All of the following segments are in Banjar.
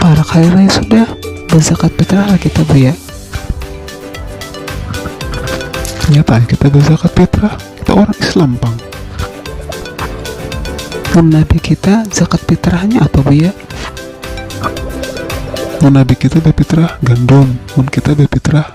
para kaya lain sudah berzakat fitrah lah kita bu ya ternyata kita berzakat fitrah kita orang Islam bang dan nabi kita zakat fitrahnya apa bu ya dan nabi kita berfitrah gandum dan kita berfitrah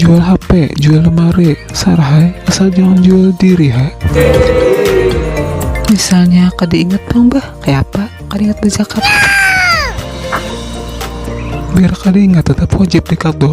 Jual hape, jual lemari, sar hai, asal jangan jual diri hai. Misalnya kada ingat pang bah, kaya apa kada ingat bazakat. Biar kada ingat tetap wajib di qadha.